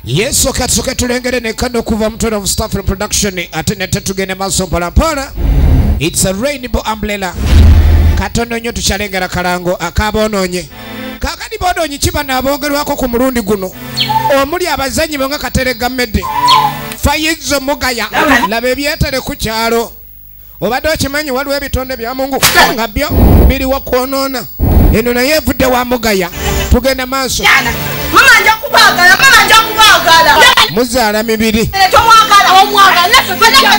yesu katusoke tulengere nekano okuva mutone of staff production ate nete tugende maaso mpolampola its a rainbow umbrella katono nnyo tukyalengera kalango akaboononye kakati boononyi kiba naabongerwako ku mulundi guno omuli abazanyi bo nga kateregamedde fayizo mugaya laba ebyetere ku kyalo obadde okimanyi waliwo ebitonde bya mungu nga byo biriwo kwonoona eno naye evudde wa mugaya tugenda maaso muzaala mibiri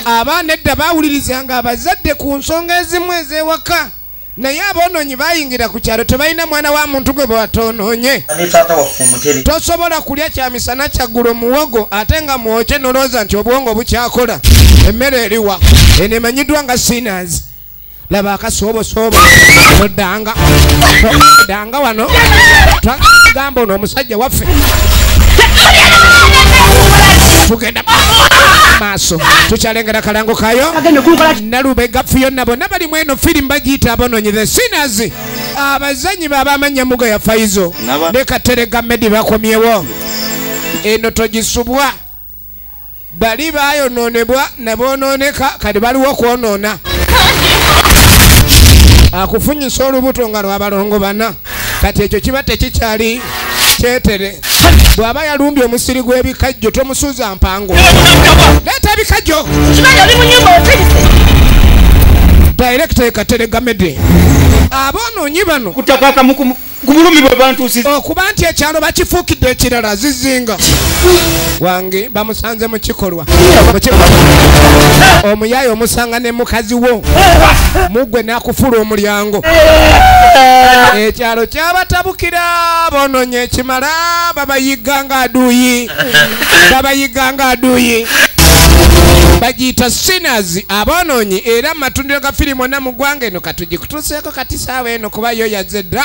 abaana edda bawulirizanga abazadde ku nsonga ezimu ez'ewaka naye aboononyi bayingira ku kyalo tebalina mwana wa muntu gwe bwatoononye tosobola kulya kyamisana kyaggulu muwogo ate nga mwokye nolowooza nti obwongo bukyakola emmere eriwa eno emanyiddwa nga sinas laba akasoobosobo oddanga oddanga wano twagamba ono omusajja waffe tugenda maaso tukyalengera kalango kayo nalubega fiyona bonna bali mu eno firimu bagiyita abononyi the sinners abazanyi babamanya muga ya faizo ne katerega medi bakomyewo eno togisubwa bali bayononebwa nebononeka kati baliwo okwonona akufunyisa olubuto nga lwabalongo bana kati ekyo kiba tekikyali kyetere bw'aba yalumbye omusiri gw'ebikajjo tomusuuza mpango leeta ebikajjo direkita ekateregamede aboononyi bano kubulumi bwebantusiza okuba nti ekyalo bakifuukidde ekirala zizinga wange bamusanze mu kikolwa omuyaye omusanga ne mukazi wo mugwe nakufula omulyango ekyalo kyabatabukira bononye ekimala babayiga nga aduyi babayiga nga aduyi bagiyita sinners aboononyi era mu matundiro ga firimu onna mu ggwanga eno katugikutuuseeko kati saawa eno kuba yo yaze dda